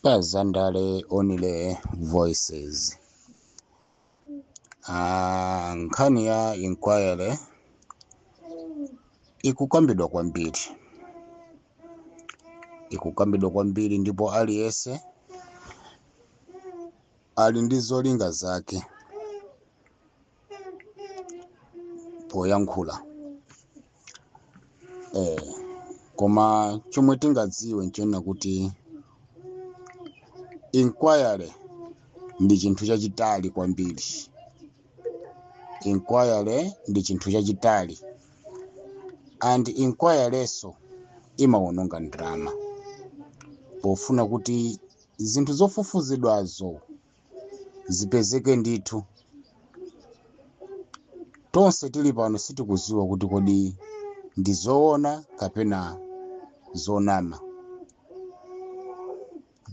pazandale only voices ah, nkhani ya inquiry ikukambidwa kwambiri ikukambidwa kwambiri ndipo aliyense ali ndi zolinga zake poyankhula eh, koma chomwe tingadziwe nchonena kuti inquiry ndi chinthu chachitali kwambiri inquiry ndi chinthu chachitali and inquirynso imawononga ndalama pofuna kuti zinthu zofufuzidwazo zipezeke ndithu tonse tili pano sitikuziwa kuti kodi ndi zoona kapena zonama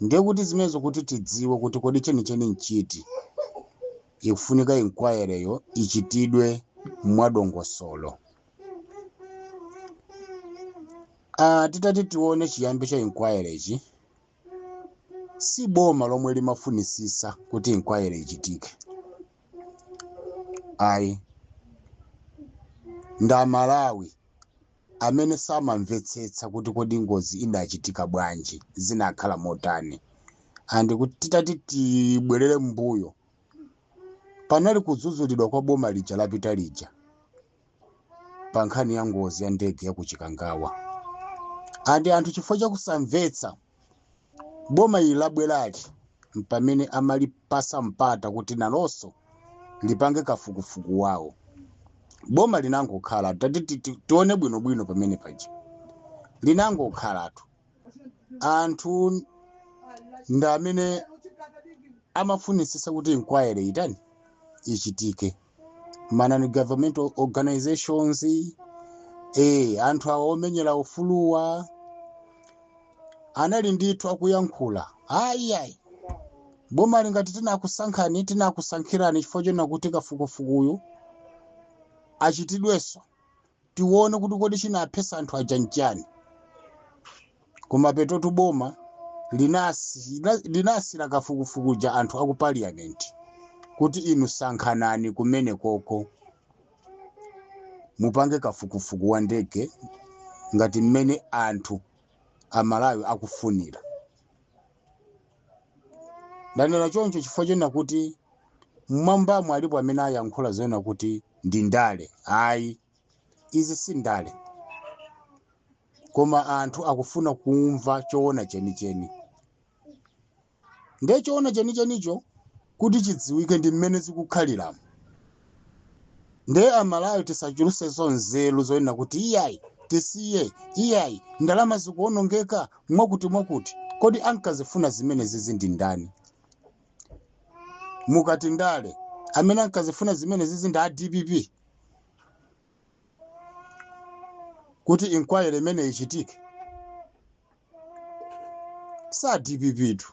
ndiye kuti zimenezo kuti tidziwe kuti kodi chenicheni nchiti ikufunika inquiryyo ichitidwe mwadongosolo ah, titati tione chiyambi cha inquirychi si boma lomwe limafunisisa kuti inquiry ichitike ayi ndi amalawi amene samamvetsetsa kuti kodi ngozi inachitika bwanji zinakhala motani and kuti titati tibwerere mbuyo panali kudzudzulidwa kwa boma lija lapita lija pa nkhani ya ngozi ya ndege ya ku chikangawa and anthu chifukwa cha kusamvetsa boma ili labwerali mpamene amalipasa mpata kuti nalonso lipange kafukufuku wawo boma linangokhalatu tati ti- ti- tione bwinobwino pamene paja linangokhalatu anthu ndi amene amafunitsitsa kuti inquiry itani ichitike ma non governmental organizations eh, anthu awa omenyera ufuluwa anali ndithu akuyankhula ayiayi boma ili ngati tinakusankhani tinakusankhirani chifukwa chonena kuti kafukufukuyu achitidwenso tione kuti kodi chinaphesa anthu aja nchani koma penotu boma linasi- lina- linasiira kafukufuku uja anthu aku parliament kuti inu sankhanani kumeneko ko mupange kafukufuku wa ndege ngati mmene anthu amalawi akufunira ndanena choncho chifukwa chonena kuti mmwambamo alipo amene ayankhula zonena kuti ndi ndale ayi izi si ndale koma anthu akufuna kumva choona chenicheni ndiye choona chenichenicho kuti chidziwike ndi mmene zikukhaliramo nde amalawi tisachulusenso nzeru zonena kuti iyayi tisiye iyayi ndalama zikuonongeka mwakuti mwakuti kodi ankazifuna zimenezizi ndi ndani mukati ndale amene ankazifuna zimenezizi ndi a dpp kuti inquiry imeneyi ichitike si a dpp tu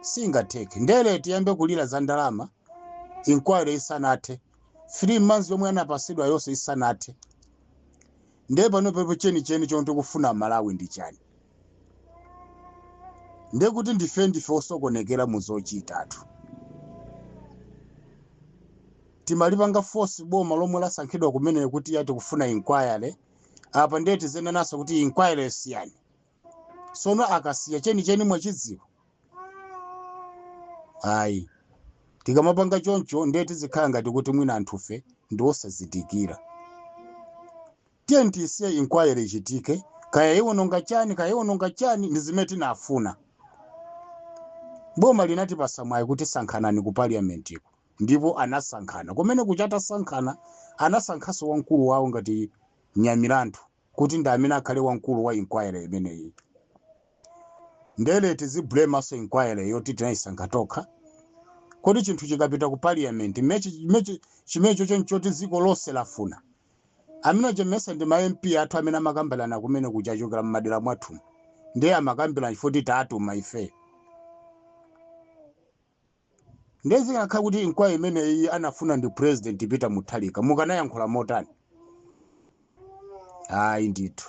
singatheke nde lero tiyambe kulira za ndalama inquiry isanathe three months yomwe anapasidwa yonse isanathe ndiye panopa po chenicheni chomwe tikufuna malawi ndi chani ndiye kuti ndife ndife osokonekera mu zochita tu timalipanga force boma lomwe lasankhidwa kumene kuti ya tikufuna inquiry apa ndiye tizenananso kuti inquiry siyani sono akasiya chenicheni mwachidziwa? ayi tikamapanga choncho ndiye tizikhala ngati kuti mwina anthufe ndi osazindikira tiyeni tisiye inquiry ichitike kaya iwononga chani kaya iwononga chani ndi zimene tinafuna boma linatipasa mwayi kuti sankhanani ku parliamentiko ndipo anasankhana kumene kuja atasankhana anasankhanso wamkulu wawo ngati nyamilandu kuti ndi amene akhale wamkulu wa inquiry imeneyi nde lero tiziblemanso inquiry yoti tinayisankha tokha kodi chinthu chikapita ku parliament mechi- mechi- chimecho choncho choti dziko lonse lafuna amene achemesa ndi ma mp athu amene amakambirana kumene kuja achokera mmadera mwathu ndiye amakambirana chifukwa choti tatuma ife ndiye zikanakhala kuti inquiry imeneyi anafuna ndi president peter mutharika mukanayankhula motani ayi ndithu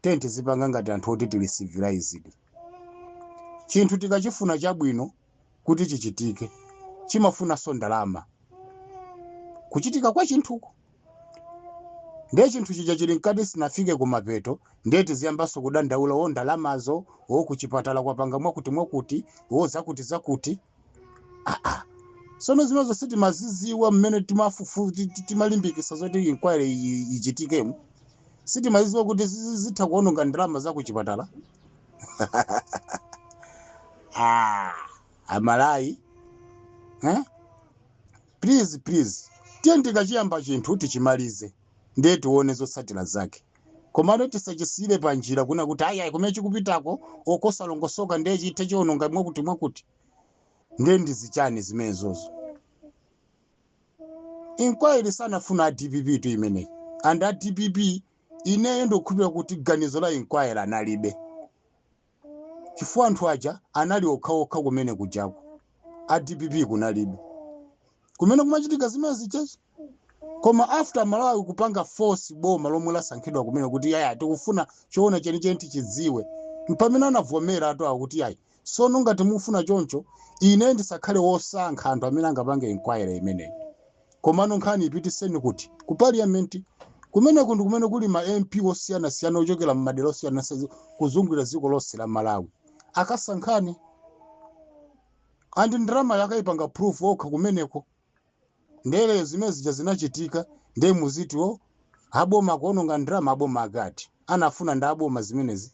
tiyeni tizipanga ngati anthu oti tili civilized chinthu tikachifuna chabwino kuti chichitike chimafunanso ndalama kuchitika kwa chinthuko ndiye chinthu chija chili mkati sinafike kumapeto ndiye tiziyambanso kudandaula wo ndalamazo wo kuchipatala kwapanga mwakuti mwakuti wo zakuti zakuti aa sono zimenezo sitimaziziwa mmene timafufu ti- ti- timalimbikisa zoti inquiry iyi ichitikemo sitimaziziwa kuti zizi- zitha kuononga ndalama za kuchipatala ah, amalawi eh? Please please tiyeni tikachiyamba chinthu tichimalize ndiye tione zotsatira zake komano tisachisiyire panjira kuna kuti ayi ayi kumene chikupitako okosalongosoka ndiye chithe chiononga mwakuti mwakuti ndiye ndi zichani zimenezozo inquiry sanafuna a dpp tu imeneyi and a dpp ineyo ndikukhulupirira kuti ganizo la inquiry analibe chifukwa anthu aja anali okhaokha kumene kujako a dpp kunalibe kumene kumachitika zimenezijazi koma after malawi kupanga force boma lomwe lasankhidwa kumene kuti ayi ayi tikufuna choona chenicheni tichidziwe mpamene anavomera atero kuti yayi sono ngati mufuna choncho ine ndisakhale wosankha anthu amene angapange inquiry imeneyi Komano nkhani ipititseni kuti? Ku parliament? Kumeneko ndi kumene kuli ma MP osiyanasiyana ochokera m'madera osiyanasiyana kuzungulira dziko lonse la Malawi. Akasankhane. And ndalamayo akaipange approve okha kumeneko. Nde lero zimene zija zinachitika ndiye muziti a boma akuononga ndalama a boma ake ati anafuna ndi a boma zimenezi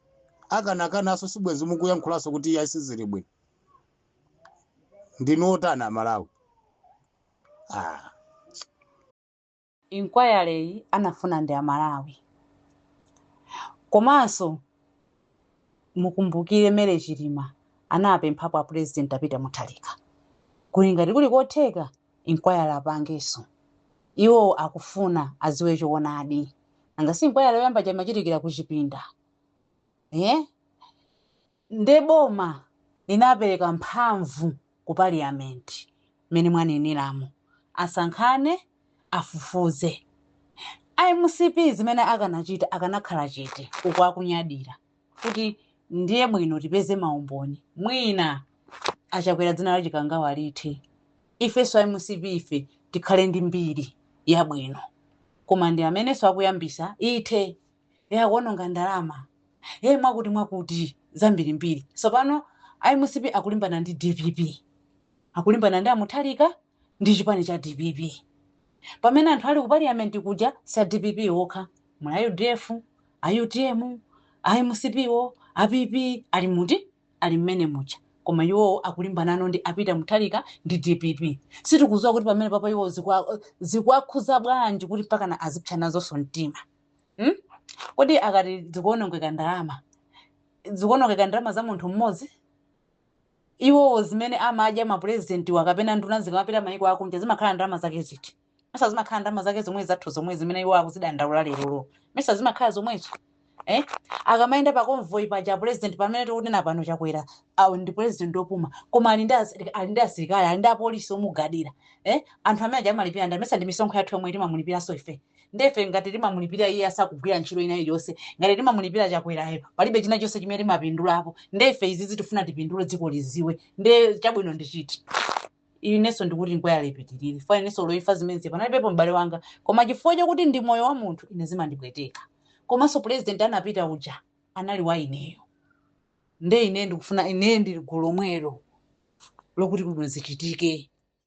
akanakanaso sibwenzi mukuyankhulanso kuti iyayi sizili bwino ndinu otani amalawi ah. inquiry yi anafuna ndi amalawi komanso mukumbukire Mary Chilima anapemphapo a president a Peter Mutharika kuti ngati kuli kotheka inquiry apangenso iwo akufuna aziwe choonadi nanga si inquiry yoyamba ija imachitikira kuchipinda eh? Nde boma linapereka mphamvu ku parliament mmene mwaneneramo asankhane afufuze. A mcp zimene akanachita akanakhala chete uku akunyadira kuti ndiye bwino tipeze maumboni mwina a Chakwera dzina la Chikangawa lithe ifenso a mcp ife tikhale ndi mbiri yabwino koma ndi amenenso akuyambitsa ithe. e akuononga ndalama e mwakuti mwakuti zambirimbiri tsopano a mcp akulimbana ndi dpp akulimbana ndi a Mutharika ndi chipani cha dpp pamene anthu ali ku parliament kuja si a dpp okha muli a udf a utm a mcp wo a pp a NDP ali mmene muja koma iwowo akulimbana ndi a Peter Mutharika ndi dpp sitikuziwa kuti pamenepapa iwo zikwa- zikuwakhuza bwanji kuti mpakana azipsa nazoso mtima hmm? kodi akati dzikuonongeka ndalama dzikuonongeka ndalama za munthu mmodzi iwowo zimene amadya mapurezidentiwa kapena nduna zikamapita mayiko akunja zimakhala ndalama zake ziti mesa zimakhala ndalama zake zomwe zathu zomwe zimene iwo akuzidandaula lerolo mesa zimakhala zomwezo eh? akamayenda pa convoy paja president pamene tikunena pano chakwera awo ndi president opuma koma ali ndi asirika- ali ndi asilikali ali ndi apolisi omugadira eh? anthu amene aja amalipira ndani mesa ndi misonkho yathu yomwe timamulipiranso ife ndefe ngati timamulipira iye asakugwira ntchito ina iliyonse ngati timamulipira chakwerayo palibe china chonse chimene timapindulapo ndefe izizi tifuna tipindule dziko liziwe nde chabwino ndi chiti inenso ndikuti inquiry ipitirire fa inenso loifa zimenezi panalibepo m'bale wanga koma chifukwa chakuti ndi moyo wa munthu ine zimandipweteka komanso president anapita uja anali wa ineyo nde ine ndikufuna ine ndili gulu lomwelo lokuti bwino zichitike